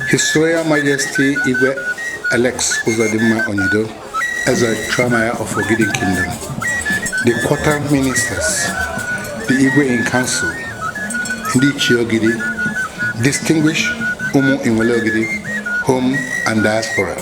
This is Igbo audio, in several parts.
His Royal Majesty Igwe Alex Uzodinma Onyido as a Tramaya of Ogidi Kingdom, the quarter ministers, the Igwe in Council, Ndi Chiogidi, distinguished Umu Inwele Ogidi, home and diaspora.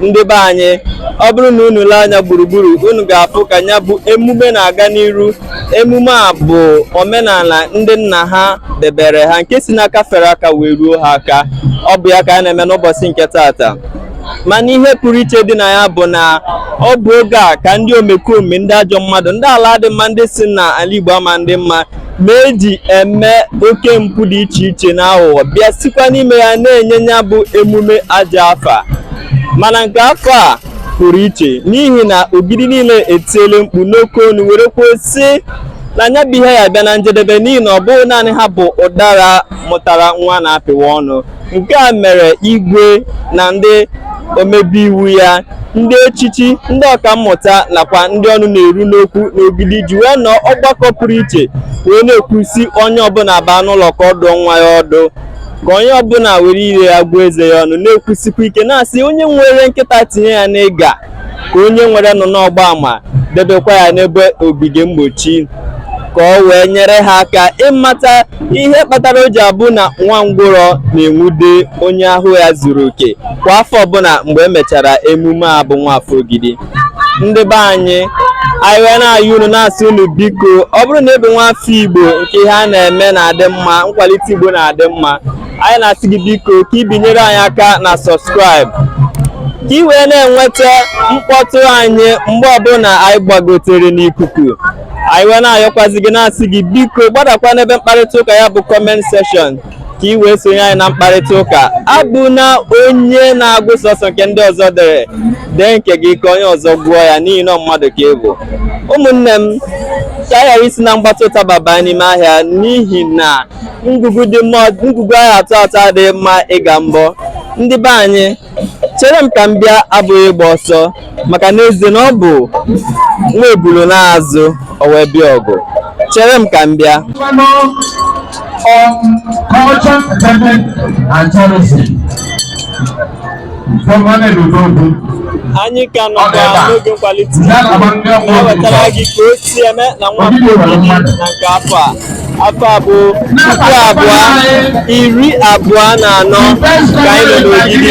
ndị be anyị ọ bụrụ na unu lee anya gburugburu unu ga-afụ ka ya bụ emume na-aga n'iru emume a bụ omenala ndị nna ha debere ha nke si n'aka fere aka wee ruo ha aka ọ bụ ya ka a na-eme n'ụbọchị nke taata mana ihe pụrụ iche dị na ya bụ na ọ bụ oge a ka ndị omekome ndị ajọ mmadụ ndị ala adị mma ndị sị na ala Igbo ama adị mma ma eji eme oke mpụ dị iche iche na aghụghọ bịa sikwa n'ime ya na-enye ya bụ emume ajọ afa mana nke afọ a pụrụ iche n'ihi na Ogidi niile etiele mkpu n'oke onu were kwuo sị na nya bụ ihe ya bịa na njedebe n'ihi na ọ bụghị naanị ha bụ udara mụtara nwa a na-apịwa ọnụ nke a mere igwe na ndị omebe iwu ya ndị echichi ndị ọkammụta nakwa ndị ọnụ na-eru n'okwu n'Ogidi ji wee nọọ ọgbakọ pụrụ iche wee na-ekwu sị onye ọbụla baa n'ụlọ ka ọ dụọ nwa ya ọdụ ka onye ọbụla were ire ya gụọ eze ya ọnụ na-ekwusikwa ike na-asị onye nwere nkịta tinye ya n'ịga ka onye nwere anụ n'ọgbọ ama debekwa ya n'ebe ogige mgbochi ka o wee nyere ha aka ịmata ihe kpatara o ji abụ na nwa ngwụrọ na-enwude onye ahụ ya zuru oke kwa afọ ọbụla mgbe e mechara emume a bụ Nwafọ Ogidi ndị be anyị anyị wee na-ayọ unu na-asị unu biko ọ bụrụ na ị bụ nwa afọ Igbo nke ihe a na-eme na-adị mma nkwalite Igbo na-adị mma anyị na-asị gị biko ka ị binyere anyị aka na subscribe ka ị wee na-enweta mkpọtụ anyị mgbe ọbụla anyị gbagotere n'ikuku anyị wee na-ayọkwazi gị na-asị gị biko gbadakwa n'ebe mkparịta ụka ya bụ comment section ka ị wee sonye anyị na mkparịta ụka abụna onye na-agụ sọsọ nke ndị ọzọ dere dee nke gị ka onye ọzọ gụọ ya n'ihi na mmadụ ka ị bụ ụmụnne m ka a ghara isi na mgbatị ụtaba baa n'ime ahịa n'ihi na ngwugwu a ya-atọ atọ adịghị mma ịka mbọ ndị be anyị chere m ka m bịa abụghị ịgba ọsọ maka n'ezie na ọ bụ nwa ebulu naa azụ o wee bịa ọgụ chere m ka m bịa on culture, entertainment, and tourism. anyị ka nọkwa n'oge nkwalite na-ewetara gị ka o si eme na Nwafọ Ogidi na nke afọ a afọ a bụ puku abụọ iri abụọ na anọ ka anyị nọ n'Ogidi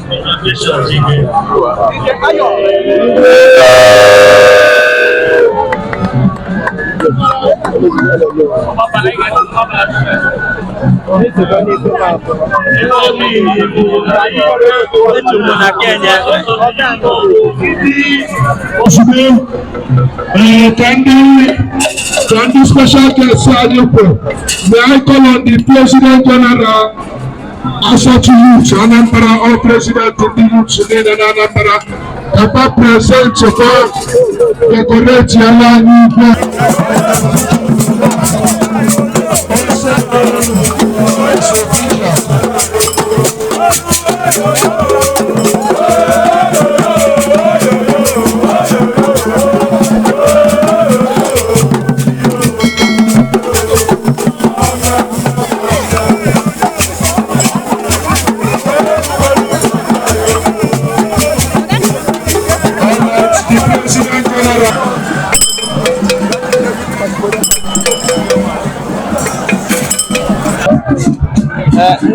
ozugbo ee ka ndị ka ndị special guest anyị kwụ may I call on the president general ASATU Youth Anambra ọ president ndị Youth niile na Anambra papa present kwa decorate ala anyị igwe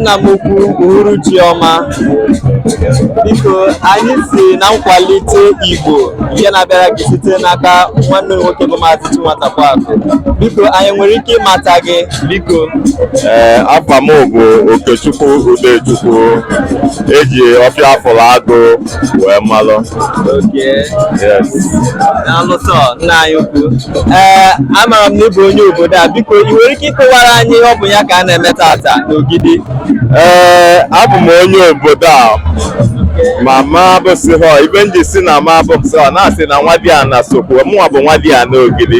nna m ukwu uhuruchi ọma biko anyị si na nkwalite igbo nke na-abịara gị site n'aka nwanne nwoke bụ maazị Chinwata Kwakụ biko anyị nwere ike ịmata gị biko ee afa m bụ okechukwu udechukwu e ji ọfịa afụrụ agụ wee malụ na-alụsọ nna anyị ukwu ee amaara m na ị bụ onye obodo a biko ị nwere ike ịkọwara anyị ihe ọ bụ ya ka a na-eme tata n'ogidi ee abụ m onye obodo a ma m abụsịhọ ife m ji sị na m abụsịhọ na-asị na nwadiana sokwu mụnwa bụ nwadiana ogidi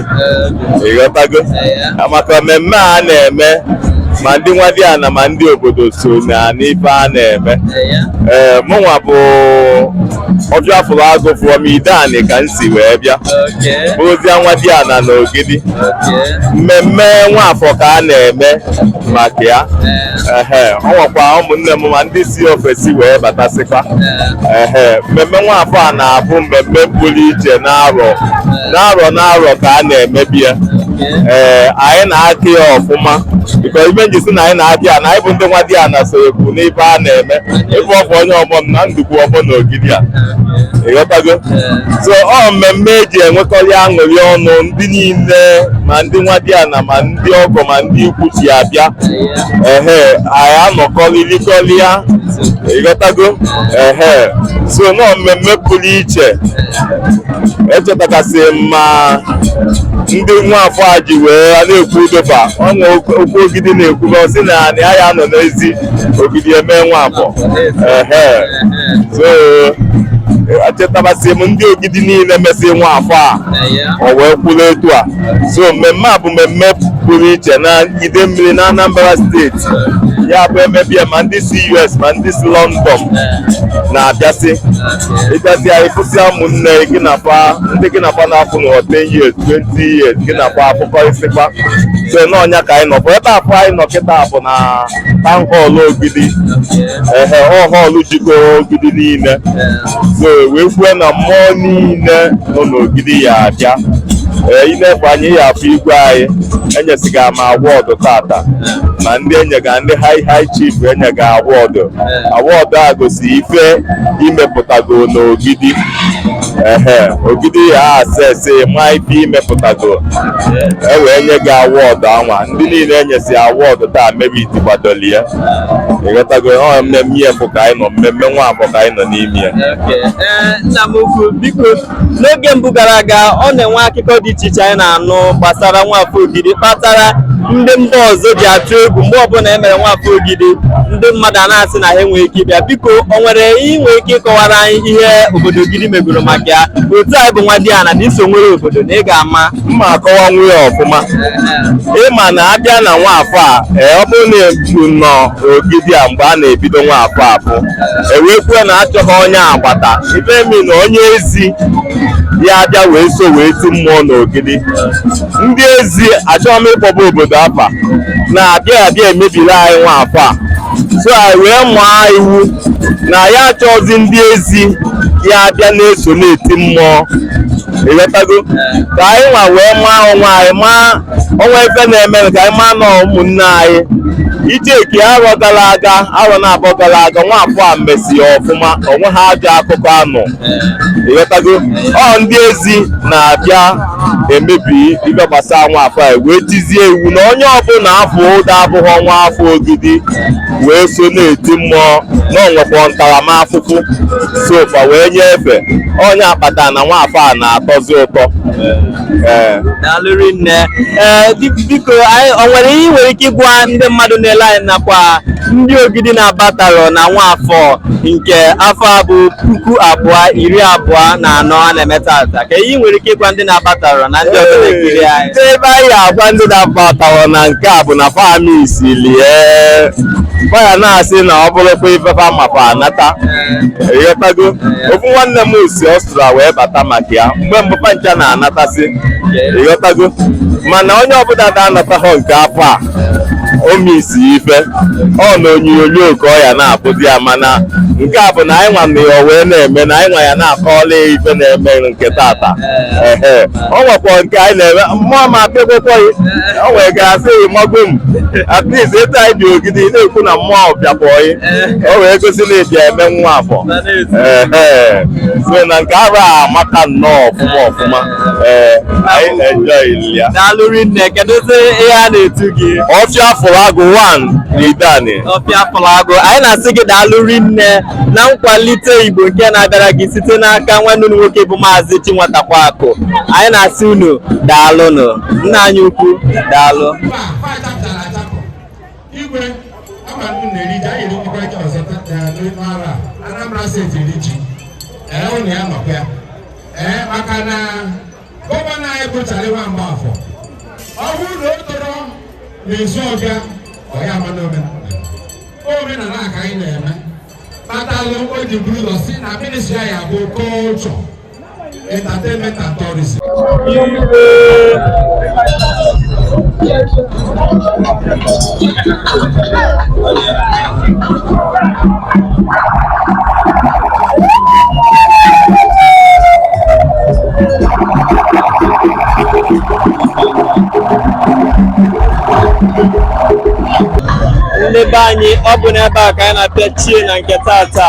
ị ghọtago maka mmemme a na-eme ma ndị nwadiana ma ndị obodo so na n'ife a na-eme ee mụnwa bụ ọfịa afụrụ agụ from ideani ka m si wee bịa bụrụzia nwadiana na ogidi mmemme nwafọ ka a na-eme maka ya ehe ọ nwekwa ụmụnne m ma ndị si ofesi wee batasịkwa ehe mmemme nwafọ a na-abụ mmemme pụrụ iche n'arọ n'arọ n'arọ ka a na-emebe ya ee eh, anyị na-akị ya ọfụma because ife m ji sị na anyị na-akị ya na anyị bụ ndị nwadiana sokwu n'ife a na-eme ị fụ ofu onye ọgbọ m na ndụkwu ọgbọ na ogidi a ị ghọtago so ọ mmemme e ji enwekọrị aṅụrị ọnụ ndị niile ma ndị nwadiana ma ndị ọgọ ma ndị ikwu si abịa ehe anyị anọkọ ririkọrịa ị ghọtago ehe so na ọ mmemme pụrụ iche echetakasị ma ndị nwafọ a ji wee na-ekwu udoba ọnwa okwu ogidi na-ekwuba sị na anyị aya anọ n'ezi ogidi eme nwafọ so echetawasị m ndị ogidi niile mesị nwafọ a ọ wee kwụrụ etu a so mmemme a bụ mmemme pụrụ iche na idemmili na Anambra steeti ya bụ emebe ya ma ndị si US ma ndị si London na-abịasị ịbịazịa ịfụsịa ụmụnne gị na fa ndị gị na fa na-afụhọ 10 years 20 years gị na fa afụkọrịsịkwa so na ọ nya ka anyị nọ bụ ebe afụ anyị nọ kịta bụ na town hall ogidi ehe ọ hall jikọrọ ogidi niile so wee kwue na mmụọ niile nọ n'ogidi ya-abịa ee i nefe anya ị ya-afụ igwe anyị enyesiga ma award tata na ndị enyega ndị high high chief enyega award award egosi ife i mepụtago n'ogidi ehe ogidi ya-assess ma ife i mepụtago e wee nye gị award anwa ndị niile e nyesi award taa merit kwadoli ya ịghọtago ọ mmemme ya bụ ka anyị nọ mmemme nwafọ ka anyị nọ n'ime ya n'oge mbụ gara aga ọ na-enwe akụkọ dị iche iche anyị na-anụ gbasara nwafọ ogidi kpatara ndị mba ọzọ ji atụ egwu mgbe ọbụla e mere nwafọ ogidi ndị mmadụ a na-asị na ha enweghị ike ịbịa biko o nwere ihe ị nwere ike ịkọwara anyị ihe obodo ogidi megoro maka ya otu a ị bụ nwadiana na i so nwere obodo na ị ga-ama mma akọwanwu ya ọfụma ị ma na a bịa na nwafọ a ee, ọ bụrụ na ebu nọ ogidi a mgbe a na-ebido nwafọ afụ e wee kwuo na a chọghị onye agbata ife m mean na onye ezi ya abịa wee so wee ti mmụọ n'ogidi ndị ezi achọghị m ịkpọba obodo afa na-abịa abịa emebiri anyị nwafọ a so anyị wee mụọ iwu na ya achọghịzi ndị ezi ya abịa na-eso na-eti mmụọ ịghọtago ka anyị nwa wee maa onwe anyị ma o nwe ife na-eme ka anyị maa na ọ ụmụnne anyị ị checkie arọ gara aga arọ naabọ gara aga nwafọ a mesi ọfụma o nwehọ ajọ akụkọ a nụ ịghọtago ọ ndị ezi na-abịa emebi ife gbasara nwafọ a wee tizie iwu na onye ọbụla a fụta abụghị nwa afọ ogidi wee so na-eti mmụọ na o nwekwa ntaramahụhụ so fa wee nye efe ọ nya kpata na nwafọ a na-atọzi ụtọ ee daalụ rinne ee di- biko anyị o nwere ihe ị nwere ike ịgwa ndị mmadụ na-ele anyị nakwa ndị ogidi na-abatarọ na nwafọ nke afọ a bụ puku abụọ iri abụọ na anọ a na-eme tata kee ihe ị nwere ike ịgwa ndị na-abatarọ na ndị ọzọ na-ekiri anyị Ndị ebe anyị agwa ndị na-abataghọ na nke a bụ na fa misilie fa ya na-asị na ọ bụrụkwa ife fa ma fa anata ịghọtago ofu nwanne m si Ọstria wee bata maka ya mgbe mbụ fa ncha na-anatasị ịghọtago mana onye ọbụla na-anataghọ nke afọ a o misi ife ọ na onyonyo ka ọ ya na-afụzi ya mana nke a bụ na anyị nwa na ya wee na-eme na anyị nwa ya na-akọọla ya ife na-eme nke tata ehe o nwekwa nke anyị na-eme mmụọ ma apịakwekwaghị o nwere ka asị gị mago m at least etu anyị bi Ogidi na-ekwu na mmụọ bịakwaghị o wee gosi na ị bịa eme Nwafọ Ehe. so na nke ahụ amaka nnọọ ọfụma ọfụma ee anyị na-enjoy ya daalụ rinne kedụzi ihe a na-etu gị ọfịa afụlụ agụ 1 na idani ọfịa afụlụ agụ anyị na-asị gị daalụ rinne na nkwalite Igbo nke na-abịara gị site n'aka nwanne unu nwoke bụ Maazị Chinwatakwa Akụ anyị na-asị unu daalụnụ nna anyị ukwu daalụ Anambra steeti eri ji ee unu ya nọkwa ya ee maka na gọvanọ anyị bụ Charlie Nwa Mgbafọ ọ bụrụ na o toro n'Isuọfịa ọ ya ama n'omenala omenala a ka anyị na-eme kpatalụ o ji buru ụzọ si na ministri anyị a bụ culture entertainment and tourism ndị be anyị ọ bụ n'ebe a ka anyị na-apịachie na nke tata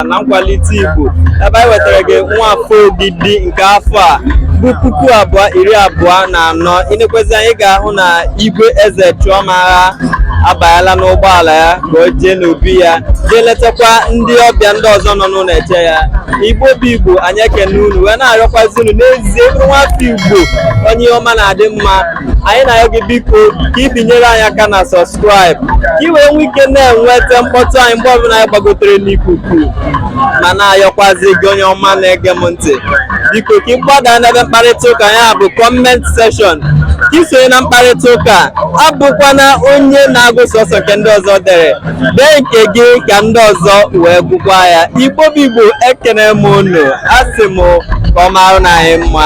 na nkwalite Igbo ebe anyị wetara gị Nwafọ Ogidi nke afọ a bụ puku abụọ iri abụọ na anọ i nekwezi anyị ga-ahụ na igwe Ezechuamagha abanyela n'ụgbọala ya ka o jee n'obi ya jee letakwa ndị ọbịa ndị ọzọ nọ n'ụlọ eche ya igbo bụ igbo anyị ekene unu wee na-arịọkwazi unu n'ezie nwafọ igbo onye ihe ọma na-adị mma anyị na-arịọ gị biko ka i binyere anyị aka na sọbskraịb ka i wee nwee ike na-enweta mkpọtụ anyị mgbe ọbụla anyị gbagotere n'ikuku ma na-ayọkwazi gị onye ọma na-ege m ntị biko ka ị gbadaa n'ebe mkparịta ụka ya bụ kọment seshọn ka i sonye na mkparịta ụka abụkwana onye na-agụ sọsọ nke ndị ọzọ dere dee nke gị ka ndị ọzọ wee gụkwa ya igbo bụ igbo ekene m unu asị m ka ọ marụ na anyị mma